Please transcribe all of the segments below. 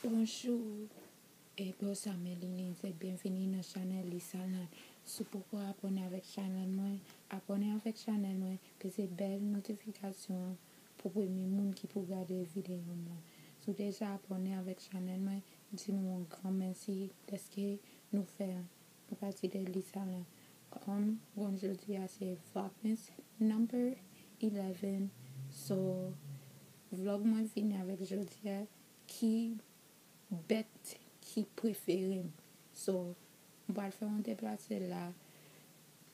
Bonjou e bosa me liline se byenvini nan chanèl lisa land si w poko abòne avèk chanèl mwen abòne avèk chanèl mwen peze bèl notifikasyon an pou w premye moun ki pou gade videyo m lan si w deja abòne avèk chanèl mwen di nou yon gran mèsi dèske nou fè Apati de lisa la, kòm bon jodi a se vlogmas number 11 so vlog mwen vini avèk jodi a ki bèt ki preferem so m pral fè yon deplase la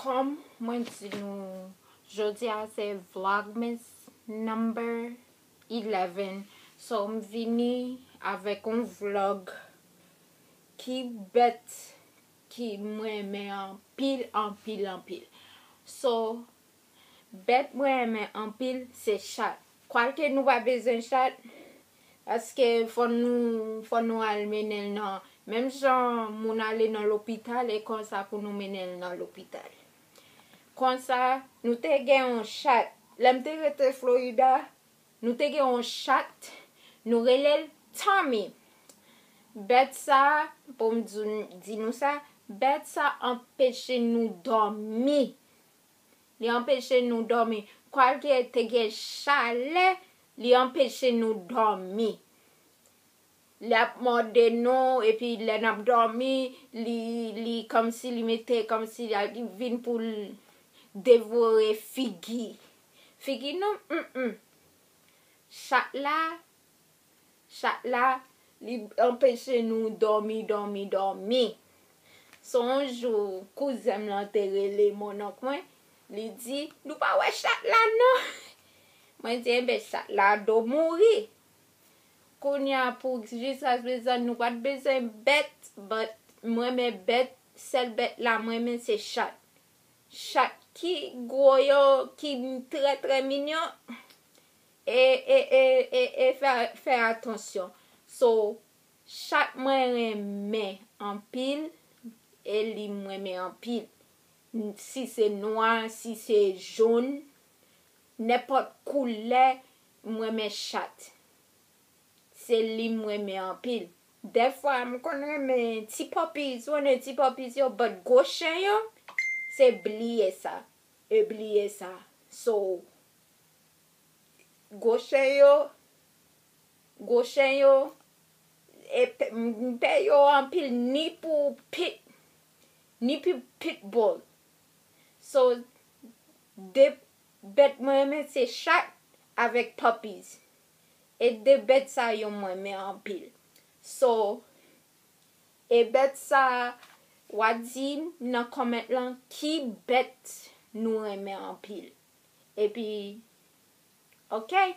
Kòm mwen di nou jodi a se vlogmas number 11 so m vini avèk yon vlog ki bèt ki m renmen anpil anpil anpil so Bèt mwen renmen anpil se chat. Kwake nou pa bezwen chat paske fò nou al mennen l nan menm jan moun ale nan lopital e konsa pou nou mennen l nan lopital. Konsa nou te gen yon chat lè m te rete Florida nou te gen yon chat nou rele l Tommy bèt sa pou m di nou sa bèt sa anpeche nou dòmi Li anpeche nou dòmi. Kwake te gen chalè, li anpeche nou dòmi. Li ap mòde nou epi lè n ap dòmi, li kòmsi li mete kòmsi li al vin pou l devore figi. Figi nou, m m. Chat la, Chat la li anpeche nou dòmi dòmi dòmi. Son w jou kouzen m lan te rele mononk mwen li di nou pa wè chat la non mwen di enben chat la do mouri kounya pou jiska prezan nou pat bezwen bèt but m renmen bèt sèl bèt la m renmen se chat chat ki gwo yo ki trè trè minyon E e e e e fè fè atansyon so chat mwen renmen anpil e li m renmen anpil n si se nwa si se jon nenpòt koulè m renmen chat se li m renmen anpil dèfwa m konn renmen ti puppies ou konnen ti puppies yo but gwo chen yo se bliye sa e bliye sa so. Gwo chen yo Gwo chen yo e pè yo anpil ni pou pit ni pou pitbull so 2 bèt mwen renmen se chat avèk puppies e 2 bèt sa yo mwen renmen anpil so e bèt sa wa dim nan comment lan ki bèt nou renmen anpil. epi okay.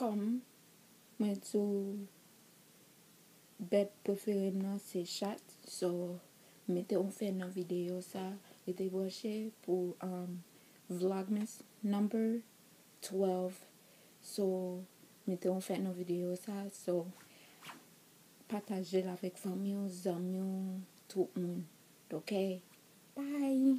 Kòm mwen di w bèt prefere m nan se chat so m mete yon fen nan videyo sa rete branche pou vlogmas number 12 so m mete yon fen nan videyo sa so pataje l avèk fanmi w zanmi w tout moun ok bye.